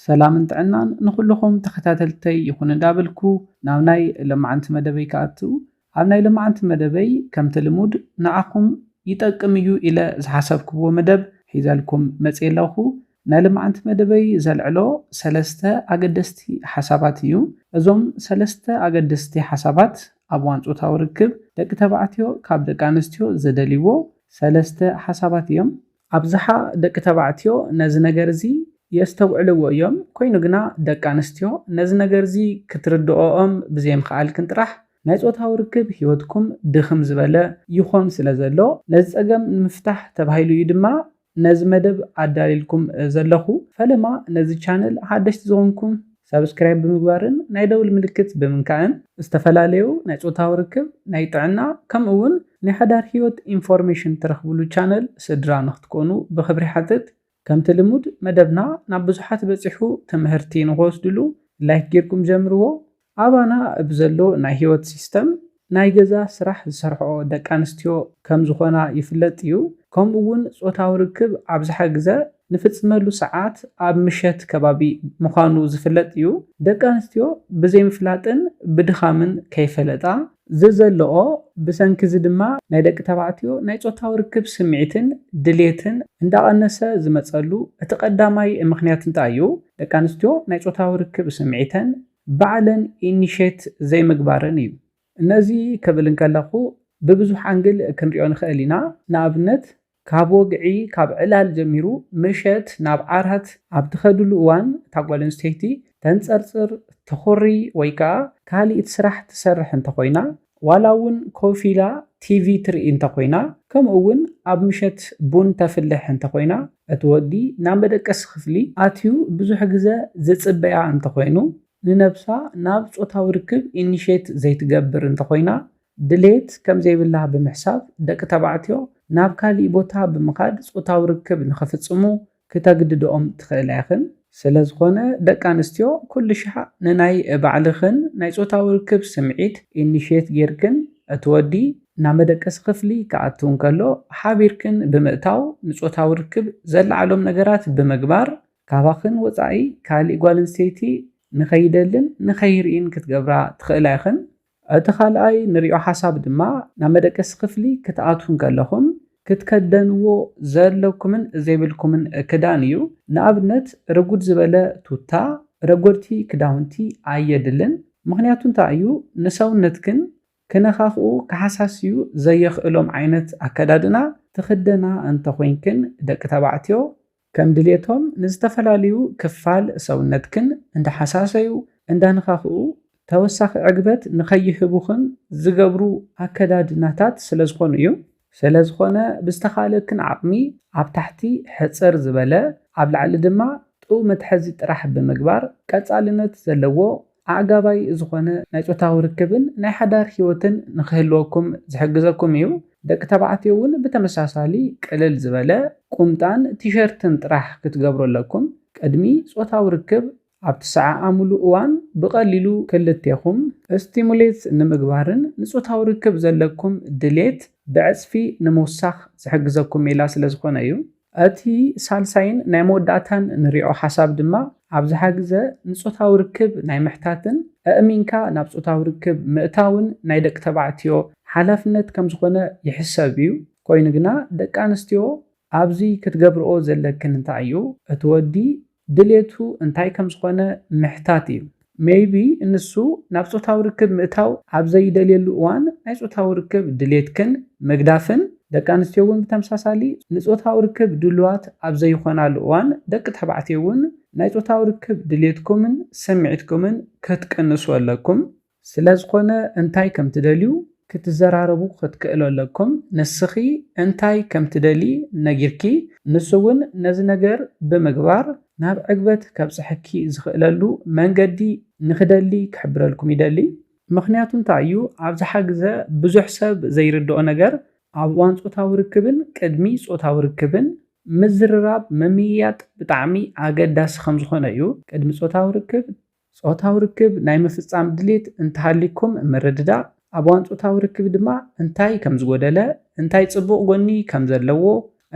ሰላምን ጥዕናን ንኹሉኹም ተኸታተልተይ ይኹን እንዳበልኩ ናብ ናይ ለማዓንቲ መደበይ ክኣቱ ኣብ ናይ ለማዓንቲ መደበይ ከምቲ ልሙድ ንዓኹም ይጠቅም እዩ ኢለ ዝሓሰብክዎ መደብ ሒዘልኩም መጽየ ኣለኹ ናይ ለማዓንቲ መደበይ ዘልዕሎ ሰለስተ ኣገደስቲ ሓሳባት እዩ እዞም ሰለስተ ኣገደስቲ ሓሳባት ኣብ እዋን ጾታዊ ርክብ ደቂ ተባዕትዮ ካብ ደቂ ኣንስትዮ ዝደልይዎ ሰለስተ ሓሳባት እዮም ኣብዝሓ ደቂ ተባዕትዮ ነዚ ነገር እዚ የስተውዕልዎ እዮም፣ ኰይኑ ግና ደቂ ኣንስትዮ ነዚ ነገር እዚ ክትርድኦኦም ብዘይምኽኣልክን ጥራሕ ናይ ጾታዊ ርክብ ህይወትኩም ድኽም ዝበለ ይዀን ስለ ዘሎ፣ ነዚ ጸገም ንምፍታሕ ተባሂሉ እዩ ድማ ነዚ መደብ ኣዳልየልኩም ዘለኹ። ፈለማ ነዚ ቻነል ሓደሽቲ ዝዀንኩም ሳብስክራይብ ብምግባርን ናይ ደውል ምልክት ብምንካእን ዝተፈላለዩ ናይ ፆታዊ ርክብ፣ ናይ ጥዕና ከምኡ እውን ናይ ሓዳር ህይወት ኢንፎርሜሽን ትረኽብሉ ቻነል ስድራ ንክትኮኑ ብኽብሪ ይሓትት። ከምቲ ልሙድ መደብና ናብ ብዙሓት በፂሑ ትምህርቲ ንክወስድሉ ላይክ ጌርኩም ጀምርዎ። ኣባና ብዘሎ ናይ ህይወት ሲስተም ናይ ገዛ ስራሕ ዝሰርሕኦ ደቂ ኣንስትዮ ከም ዝኾና ይፍለጥ እዩ፣ ከምኡ እውን ጾታዊ ርክብ ኣብዝሓ ግዘ ንፍጽመሉ ሰዓት ኣብ ምሸት ከባቢ ምዃኑ ዝፍለጥ እዩ። ደቂ ኣንስትዮ ብዘይምፍላጥን ብድኻምን ከይፈለጣ ዝዘለኦ፣ ብሰንኪ እዚ ድማ ናይ ደቂ ተባዕትዮ ናይ ጾታዊ ርክብ ስምዒትን ድሌትን እንዳቐነሰ ዝመጸሉ እቲ ቀዳማይ ምኽንያት እንታይ እዩ? ደቂ ኣንስትዮ ናይ ጾታዊ ርክብ ስምዒተን ባዕለን ኢኒሼት ዘይምግባረን እዩ። ነዚ ክብል እንከለኹ ብብዙሕ ኣንግል ክንሪኦ ንኽእል ኢና። ንኣብነት ካብ ወግዒ ካብ ዕላል ጀሚሩ ምሸት ናብ ዓራት ኣብ ትኸድሉ እዋን እታ ጓል ኣንስተይቲ ተንጸርጽር፣ ትኹሪ ወይ ከኣ ካሊእት ስራሕ ትሰርሕ እንተኾይና ዋላ እውን ኮፍ ኢላ ቲቪ ትርኢ እንተ ኾይና፣ ከምኡ እውን ኣብ ምሸት ቡን ተፍልሕ እንተ ኾይና፣ እቲ ወዲ ናብ መደቀሲ ክፍሊ ኣትዩ ብዙሕ ግዘ ዝጽበያ እንተ ኾይኑ፣ ንነብሳ ናብ ጾታዊ ርክብ ኢኒሼት ዘይትገብር እንተ ኾይና፣ ድሌት ከም ዘይብላ ብምሕሳብ ደቂ ተባዕትዮ ናብ ካሊእ ቦታ ብምኻድ ጾታዊ ርክብ ንኽፍጽሙ ክተግድድኦም ትኽእላ ኢኽን። ስለ ዝኾነ ደቂ ኣንስትዮ ኩልሻዕ ንናይ ባዕልኽን ናይ ጾታዊ ርክብ ስምዒት ኢኒሽየት ጌርክን እቲ ወዲ ናብ መደቀሲ ክፍሊ ክኣቱ እንከሎ ሓቢርክን ብምእታው ንጾታዊ ርክብ ዘለዓዕሎም ነገራት ብምግባር ካባኽን ወጻኢ ካሊእ ጓል ኣንስተይቲ ንኸይደልን ንኸይርእይን ክትገብራ ትኽእላ ኢኽን። እቲ ካልኣይ ንሪኦ ሓሳብ ድማ ናብ መደቀሲ ክፍሊ ክትኣትዉ እንከለኹም ክትከደንዎ ዘለኩምን ዘይብልኩምን ክዳን እዩ። ንኣብነት ርጉድ ዝበለ ቱታ፣ ረጎድቲ ክዳውንቲ ኣየድልን። ምኽንያቱ እንታይ እዩ ንሰውነትክን ክነኻኽኡ ክሓሳስዩ ዘየኽእሎም ዓይነት ኣከዳድና ትኽደና እንተኾይንክን ደቂ ተባዕትዮ ከም ድሌቶም ንዝተፈላልዩ ክፋል ሰውነትክን እንዳሓሳሰዩ፣ እንዳነኻኽኡ ተወሳኺ ዕግበት ንኸይህቡኽን ዝገብሩ ኣከዳድናታት ስለዝኾኑ እዩ። ስለዝኾነ ብዝተኻእለክን ዓቕሚ ኣብ ታሕቲ ሕጽር ዝበለ ኣብ ላዕሊ ድማ ጥው መትሐዚ ጥራሕ ብምግባር ቀጻልነት ዘለዎ ኣዕጋባይ ዝኾነ ናይ ጾታዊ ርክብን ናይ ሓዳር ህይወትን ንኽህልወኩም ዝሕግዘኩም እዩ። ደቂ ተባዕትዮ እውን ብተመሳሳሊ ቅልል ዝበለ ቁምጣን ቲሸርትን ጥራሕ ክትገብሩ ኣለኩም። ቅድሚ ጾታዊ ርክብ ኣብ ትሰዓዓሙሉ እዋን ብቐሊሉ ክልቴኹም ስቲሙሌት ንምግባርን ንጾታዊ ርክብ ዘለኩም ድሌት ብዕጽፊ ንምውሳኽ ዝሕግዘኩም ሜላ ስለዝኾነ እዩ። እቲ ሳልሳይን ናይ መወዳእታን ንሪዖ ሓሳብ ድማ ኣብዝሓ ግዘ ንፆታዊ ርክብ ናይ ምሕታትን ኣእሚንካ ናብ ፆታዊ ርክብ ምእታውን ናይ ደቂ ተባዕትዮ ሓላፍነት ከምዝኾነ ይሕሰብ እዩ። ኮይኑ ግና ደቂ ኣንስትዮ ኣብዚ ክትገብርኦ ዘለክን እንታይ እዩ እቲ ወዲ ድሌቱ እንታይ ከም ዝኾነ ምሕታት እዩ። Maybe ንሱ ናብ ጾታዊ ርክብ ምእታው ኣብ ዘይደልየሉ እዋን ናይ ጾታዊ ርክብ ድሌትክን ምግዳፍን፣ ደቂ ኣንስትዮ እውን ብተምሳሳሊ ንጾታዊ ርክብ ድሉዋት ኣብ ዘይኾናሉ እዋን ደቂ ተባዕትዮ እውን ናይ ጾታዊ ርክብ ድሌትኩምን ስምዒትኩምን ክትቅንሱ ኣለኩም። ስለዝኾነ እንታይ ከም ትደልዩ ክትዘራረቡ ክትክእሉ ኣለኩም ንስኺ እንታይ ከም ትደልዪ ነጊርኪ ንሱ ውን ነዚ ነገር ብምግባር ናብ ዕግበት ከብጽሐኪ ዝኽእለሉ መንገዲ ንኽደሊ ክሕብረልኩም ይደሊ ምኽንያቱ እንታይ እዩ ኣብዝሓ ግዘ ብዙሕ ሰብ ዘይርድኦ ነገር ኣብ እዋን ጾታዊ ርክብን ቅድሚ ጾታዊ ርክብን ምዝርራብ ምምይያጥ ብጣዕሚ ኣገዳሲ ከምዝኾነ እዩ ቅድሚ ጾታዊ ርክብ ጾታዊ ርክብ ናይ ምፍጻም ድሌት እንተሃልይኩም ምርድዳእ፣ ኣብ እዋን ጾታዊ ርክብ ድማ እንታይ ከም ዝጎደለ፣ እንታይ ጽቡቕ ጎኒ ከም ዘለዎ፣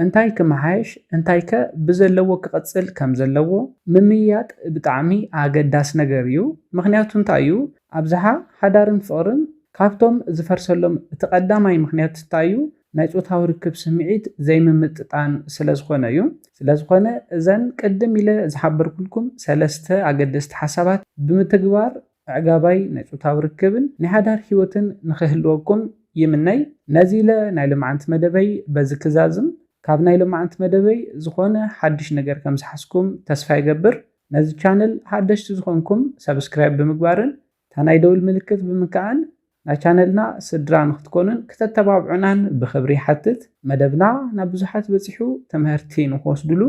እንታይ ክመሓየሽ እንታይከ ብዘለዎ ክቕጽል ከም ዘለዎ ምምይያጥ ብጣዕሚ ኣገዳሲ ነገር እዩ። ምኽንያቱ እንታይ እዩ? ኣብዝሓ ሓዳርን ፍቕርን ካብቶም ዝፈርሰሎም እቲ ቀዳማይ ምኽንያት እንታይ እዩ? ናይ ጾታዊ ርክብ ስምዒት ዘይምምጥጣን ስለ ዝኾነ እዩ። ስለ ዝኾነ እዘን ቅድም ኢለ ዝሓበርኩልኩም ሰለስተ ኣገደስቲ ሓሳባት ብምትግባር ኣዕጋባይ ናይ ጾታዊ ርክብን ናይ ሓዳር ህይወትን ንኽህልወኩም ይምነይ። ነዚ ኢለ ናይ ሎምዓንቲ መደበይ በዚ ክዛዝም። ካብ ናይ ሎምዓንቲ መደበይ ዝኾነ ሓድሽ ነገር ከም ዝሓዝኩም ተስፋ ይገብር። ነዚ ቻነል ሓደሽቲ ዝኾንኩም ሰብስክራይብ ብምግባርን እታ ናይ ደውል ምልክት ብምክኣን ናይ ቻነልና ስድራ ንክትኮኑን ክተተባብዑናን ብክብሪ ይሓትት። መደብና ናብ ብዙሓት በጺሑ ተመህርቲ ንክወስድሉ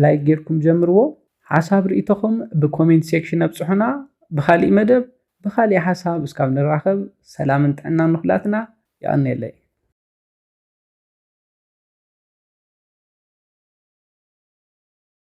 ላይክ ጌርኩም ጀምርዎ። ሓሳብ ርኢቶኹም ብኮሜንት ሴክሽን ኣብጽሑና። ብኻሊእ መደብ ብኻሊእ ሓሳብ እስካብ ንራኸብ ሰላምን ጥዕናን ንኹላትና። የቐኔለይ።